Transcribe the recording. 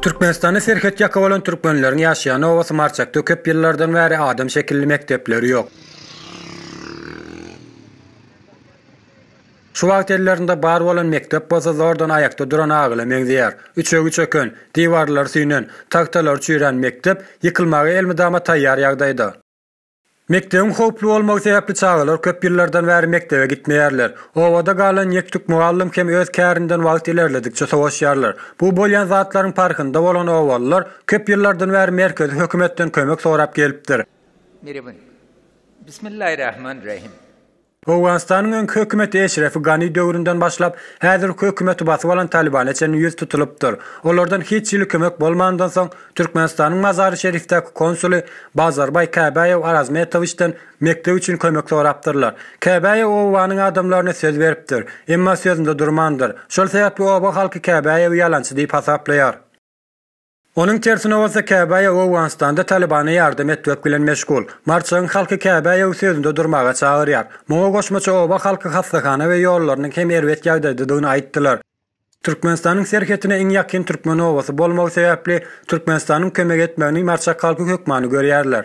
Türkmenistanda serhet ýaka bolan türkmenleriň ýaşaýan obasy Marçakda köp ýyllardan bäri adam şekilli mekdepleri ýok. Şu wagt ellerinde bar bolan mekdep bolsa zordan aýakda duran agyla meňzeýär. Üçegi çöken, diwarlary süýnen, tagtalary çüýrän mekdep ýykylmaga elmydama taýýar ýagdaýda. Mekdebiň howply bolmagy sebäpli çagalar köp ýyllardan bäri mekdebe gitmeýärler. Obada galan ýek-tük mugallym hem öz kärinden wagt ilerledikçe sowaşýarlar. Bu bolýan zatlaryň parhynda bolan obalylar köp ýyllardan bäri merkezi hökümetden kömek sorap gelipdir. Merhaba. Bismillah Rahman Rahim. Owganystanyň öňki hökümeti Eşrefi Gani döwründen başlap, häzirki hökümeti basyp alan Talibana çenli ýüz tutulypdyr. Olardan hiç hili kömek bolmandan soň, Türkmenistanyň Mazary-Şerifdäki konsuly Bazarbaý Käbäýew Arazmetowiçden mekdep üçin kömek sorapdyrlar. Käbäýew obanyň adamlaryna söz beripdir. Emma sözünde durmandyr. Şol sebäpli oba halky Käbäýewi ýalançy diýip hasaplaýar. Onuň tersine bolsa Käbäýew Owganystanda Talybana ýardam etmek bilen meşgul. Marçagyň halky Käbäýewi sözünde durmaga çagyrýar. Muňa goşmaça oba halky hassahana we ýollarynyň hem erbet ýagdaýdadygyny aýtdylar. Türkmenistanyň serhetine iň ýakyn türkmen obasy bolmagy sebäpli Türkmenistanyň kömek etmegini marçak halky hökmany görýärler.